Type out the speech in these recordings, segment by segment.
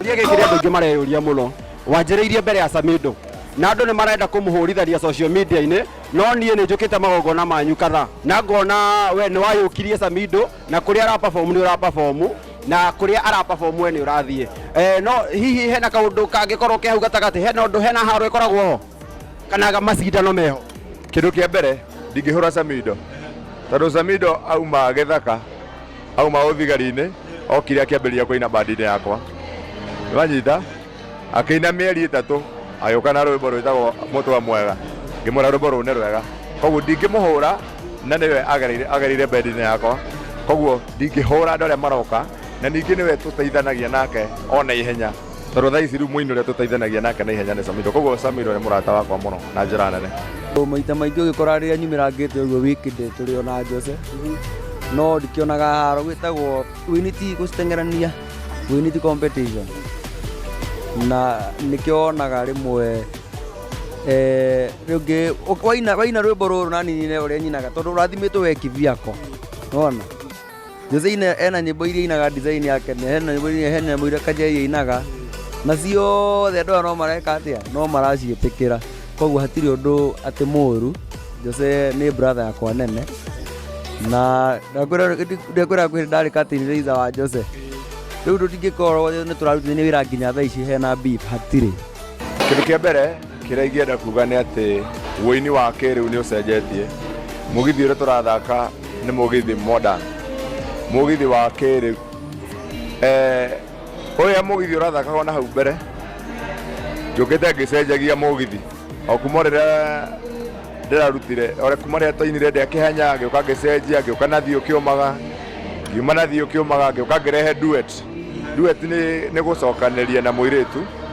Kĩũria gĩkĩ kĩrĩa andũ aingĩ mareyũria mũno wanjĩrĩirie mbere ya Samido na andũ nĩ marenda kũmũhũrithania social media-inĩ no niĩ nĩ njũkĩte magongona manyu kadhaa na ngona we nĩ wayũkirie Samido na kũrĩa ara perform nĩ ũra perform na kũrĩa ara perform we nĩ ũrathiĩ eh, no hihi hena kaũndũ kangĩkorwo ke hau gatagatĩ hena ũndũ hena haro ĩkoragwo ho kana macindano meho Kĩndũ kĩa mbere ndingĩhũra Samido tondũ Samido auma gĩthaka auma ũthigari-inĩ okire akĩambĩrĩria kũina bandi-inĩ yakwa wanyita akĩina mĩeri ĩtatũ agĩũka na rwĩmbo rwĩtagwo mũtwe mwega ngĩmwĩra rwĩmbo rũu nĩ rwega koguo ndingĩmũhũra na nĩwe agereire- agereire bendi-inĩ yakwa koguo ndingĩhũra andũ arĩa maroka na ningĩ nĩwe tũteithanagia nake ona ihenya Tondũ thaa ici rĩu mũini ũrĩa tũteithanagia nake na ihenya nĩ Samido, koguo Samido nĩ mũrata wakwa mũno na njĩra nene. Maita maingĩ ũgĩkora rĩrĩa nyumĩrangĩte ũguo wikendi tũrĩ ona Jose no ndikĩonaga haro gwĩtagwo wini ti gũciteng'erania wini ti competition na nĩkĩo wonaga rĩmwe eh, rĩngĩ waina waina rwĩmbo rũrũ na ninine ũrĩa nyinaga tondũ ũrathimĩtwo we kĩbiako nona Jose-inĩ ena nyĩmbo iria inaga design yake nĩ hena nyĩmbo iria hena mũira kanja iria inaga na ciothe andũ aya no mareka atĩa no maraciĩtĩkĩra koguo hatirĩ ũndũ atĩ mũũru Jose nĩ brother yakwa nene na ndakwĩra kwĩrĩ ndarĩ katini rĩitha wa Jose rĩu tũtingĩkorwo nĩ tũrarutithania wĩra nginya thaa ici hena beef hatirĩ kĩndũ kĩa mbere Kĩrĩa ingĩenda kuga nĩ atĩ ũini wa kĩrĩu nĩ ũcenjetie. Mũgithi ũrĩa tũrathaka nĩ mũgithi modern, mũgithi wa kĩrĩu. Eh, ũrĩa mũgithi ũrathakagwo na hau mbere, njũkĩte ngĩcenjagia mũgithi o kuma o rĩrĩa ndĩrarutire o rĩ- kuma rĩrĩa twainire ndĩa kĩhanya ngĩũka ngĩcenjia ngĩũka na thiũ kĩũmaga ngiuma na thiũ kĩũmaga ngĩũka ngĩrehe duet. Duet nĩ nĩ gũcokanĩria na mũirĩtu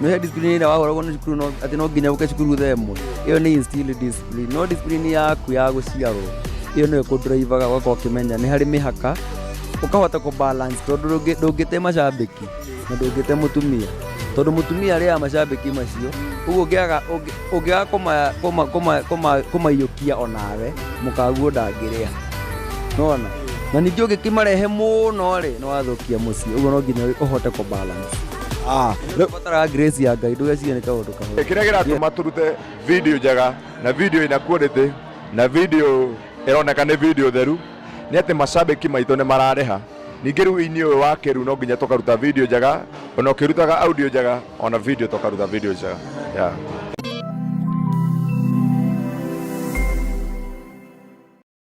no he discipline ĩrĩa wagoragwo nĩ cukuru no- atĩ no nginya ũke cukuru thaa ĩmwe ĩyo nĩ instill discipline no discipline yaku ya gũciarwo ĩyo nĩyo kũnduraivaga ũgakorwo ũkĩmenya nĩ harĩ mĩhaka ũkahota kũ balance tondũ ndũngĩ- ndũngĩte macambĩki na ndũngĩte mũtumia tondũ mũtumia arĩaga macambĩki macio ũguo ũngĩaga ũngĩ- ũngĩaga kũma- kũma- kũma- kũma- kũmaiyũkia onawe mũkaguo ndangĩrĩa nona na ningĩ ũngĩkĩmarehe mũno rĩ nĩ wathũkia mũciĩ ũguo no nginya ũhote kũ balance Ah, no- Batara grace ya Ngai ndũgecirie nĩ kaũndũ kahũthũ. kĩrĩa kĩratũma tũrute video njega na video ina quality na video ĩroneka nĩ video theru nĩ atĩ macambĩki maitũ nĩ mararĩha ningĩ rĩu ini ũyũ wa kĩrĩu no nginya tũkaruta video njega ona ũkĩrutaga audio njega ona video tũkaruta video njega yeah.